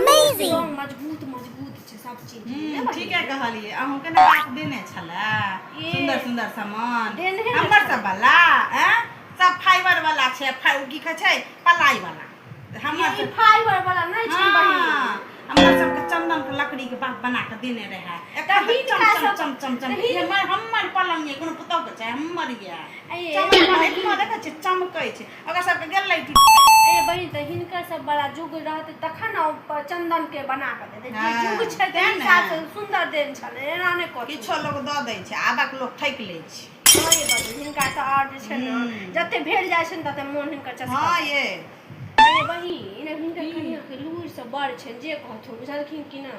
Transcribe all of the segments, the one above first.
Amazing मजबूत मजबूत छै सब चीज हम्म, ठीके कहलिए अहूँ के ना बाप देने छला ये। सुंदर सुंदर सामान देने ने हमर सब वाला हैं सब फाइबर वाला छै फाइ की कहै छै पलाई वाला तऽ हमर ई सब फाइबर वाला नै छै हाँ, बहिन हमर सबके चंदन के लकड़ी के बाप बना के देने रहे एकर तभी चम तोरा चम सब- चम चम चम तभी- हमर हमर पलंग ये कोनो पुतौ के छै हमर ये ए, चमक हमर देखै छै चमकै छै ओकर सबके गेल रही टूट ए बहिन तऽ हिनकर सब बड़ा जुग रहते तखन ने ओ प- चंदन के बना के देते जे हाँ, जुग छै तें तें ने। साथ सुंदर देन छले एना ने कथी किछो लोक दऽ दै छै आबक लोक ठकि लै छै हँ ये बहिन, हिनका तऽ आओर जे छै ने हम्म। जते भेल जाइ छै ने तते मोन हिनकर चस्का हँ ये ए बहिन हिनकर कनिया के लूर से बड़ छै जे कहथुन बुझलखिन कि ना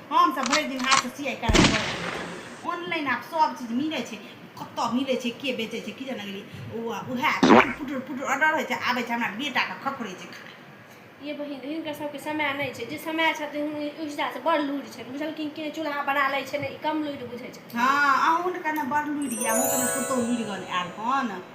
हम सब भरि दिन हाथ से सियाई कराई करत ऑनलाइन आप सब चीज मिले छे कत्तो मिले छे के बेचे छे की जाने गेली ओ उहे पुटुर पुटुर ऑर्डर होय छे आबे छे हमरा बेटा के खखरे छे खाए ये बहिन हिनकर सबके समय नहि छै जे समय छथिन ओहि हिसाबसँ बड़ लूरि छनि बुझलखिन कि चूल्हा बना लै छै ने ई कम लूरि बुझै छथिन हँ अहूँ ने कने बड़ लूरि अहूँ कने पुतहु लूरि गन आयल हन